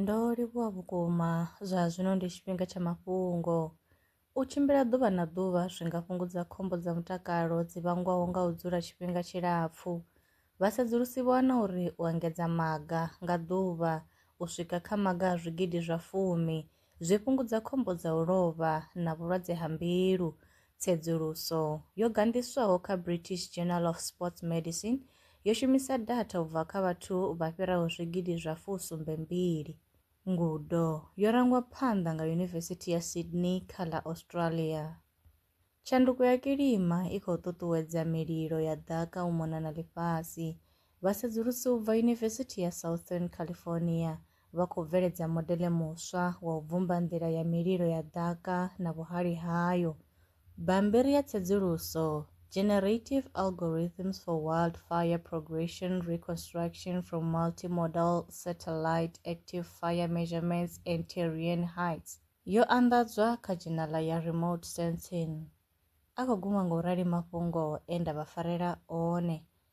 Ndo livhuwa vhukuma, zwa zwino ndi tshifhinga tsha mafhungo. U tshimbila ḓuvha na ḓuvha zwi nga fhungudza khombo dza mutakalo dzi vhangwaho nga u dzula tshifhinga tshilapfu. Vhasedzulusi vho wana uri u engedza maga nga ḓuvha u swika kha maga a zwigidi zwa fumi zwi fhungudza khombo dza u lovha na vhulwadze ha mbilu Tsedzuluso yo gandiswaho kha British Journal of Sports Medicine yo shumisa data u bva kha vhathu vha fhiraho zwigidi zwa fusumbe mbili. Ngudo yo rangwa phanḓa nga Yunivesithi ya Sydney kha ḽa Australia. Tshanduko ya kilima i khou ṱuṱuwedza mililo ya ḓaka u mona na ḽifhasi, Vhasedzulusi u bva Yunivesithi ya Southern California vha khou bveledza modele muswa wa u bvumba nḓila ya mililo ya ḓaka na vhuhali hayo. Bammbiri ya tsedzuluso, Generative Algorithms for Wildfire Progression Reconstruction from Multimodal Satellite Active Fire Measurements and Terrain Heights, yo anḓadzwa kha dzhenala ya Remote Sensing. A khou guma nga u rali mafhungo e nda vha farela one